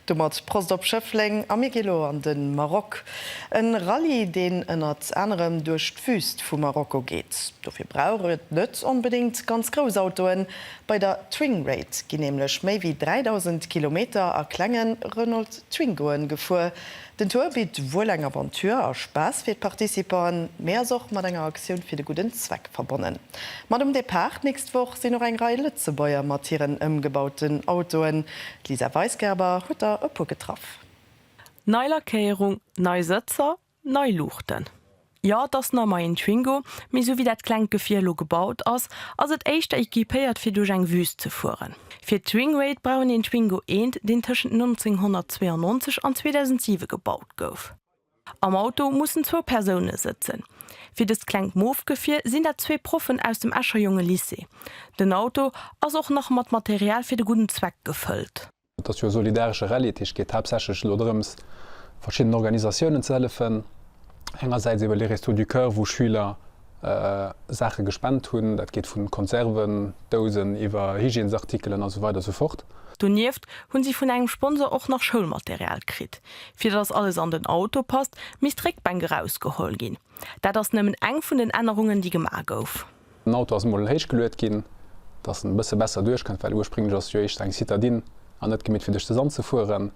Domat Prost op Schëffleng a mir gi elo an de Maroc. E Rallye, deen ënnert anerem duerch d'Wüüst vu Marokko geet. Dofir brauch et net onbedéngt ganz grouss Autoen. Bei der Twing Raid ginn nämlech méi wéi 3.000 Kilometer a klenge Renault Twingoen gefuer, Den Tour bitt wuel eng Aventure a Spaass fir d'Participanten, mee ass och mat enger Aktioun fir de gudden Zweck verbonnen. Mat um Depart d'nächst Woch sinn och eng Rei Lëtzebuerger mat hiren ëmgebauten Autoen. D'Lisa Weisgerber huet der e puer getraff. Nei Lackéierung, nei Sëtzer, nei Luuchten. Jo, et ass nach mei een Twingo, mee sou wéi dat klengt Gefier elo gebaut ass, ass et éischter equipéiert fir duerch eng Wüst ze fueren. Fir d'Swingrate brauch een een Twingo eent, deen tëschent 1992 an 2007 gebaut gouf. Am Auto mussen zwou Persoune sëtzen. Fir dëst klengt Moof-Gefier sinn dat zwee Proffen aus dem Escher Jongelycée. Den Auto ass och nach mat Material fir de gudden Zweck gefëllt. Et ass jo e solidaresche Rallye, dat heescht et geet haaptsächlech elo drëms, verschiddenen Organisatiounen ze hëllefen. Engersäits iwwer Les Restos du Cœur, wou Schüler Saache gespent hunn, dat geet vu Konserven, Dousen iwwer Hygiènesartikelen a sou weider a sou fort. Donieft hu si vun engem Sponsor och nach Schoulmaterial kritt. Fir datt alles an den Auto passt, misst d'Réckbänk erausgeholl ginn. Dat ass nëmmen eng vun den Ännerungen, déi gemaach gouf. Den Auto ass mol héich geluet ginn, dass en e bësse besser duerchkënnt, well ursprénglech ass jo éischter eng Citadine an net gemeet fir duerch de Sand ze fueren.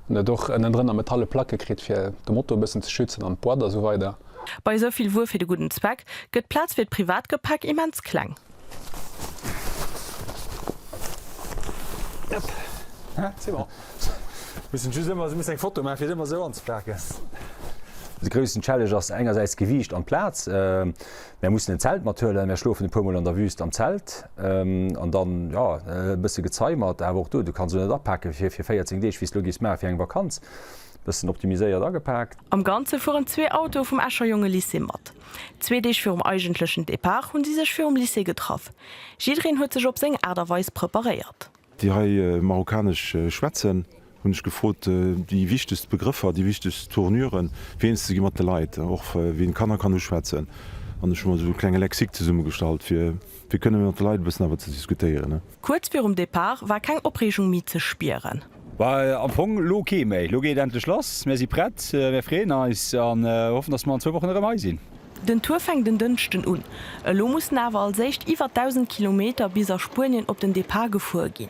En huet och ënnendrënner metalle Placke kritt fir de Moto e bëssen ze schützen an d'Boîte a sou weider. Bei esou vill Wuer fir de gudden Zweck gëtt d'Plaz fir d'Privatgepäck immens kleng. De groussen Challenge ass engersäits d'Gewiicht an d'Plaz. Mär mussen en Zelt mathuelen, mär schlofen e puer mol an der Wüst am Zelt an dann, jo, e bësse gezeimert, awer och do, du kanns elo net apaken fir fir 14 Deeg, wéi s d'elo giffs maachen fir eng Vakanz. Bëssen optimiséiert agepaakt. Am Ganze fueren zwee Autoe vum Escher Jongelycée mat. Zwee Deeg virum eigentlechen Depart hunn si sech virum Lycée getraff. Jiddereen huet sech op seng Aart a Weis preparéiert. Déi hei Marokkanesch schwätzen, hunn ech gefrot, déi wichtegst Begrëffer, déi wichtegst Tournuren fir eens ze gi mat de Leit, och wien Kanner kann uschwätzen. An ech hu mer esou e klenge Lexik zesummegestallt, fir fir kënne mat de Leit e bëssen awer ze diskutéieren. Kuerz virum Depart war keng Opreegung méi ze spieren. Well am Fong elo kee méi. Elo geet et endlech lass. Mir si prett. Mir freeën eis an hoffen, dass mer an zwou Wochen erëm hei sinn. Den Tour fänkt en Dënschden un. Elo mussen awer als éischt iwwer 1.000 Kilometer bis a Spuenien op den Depart gefuer ginn.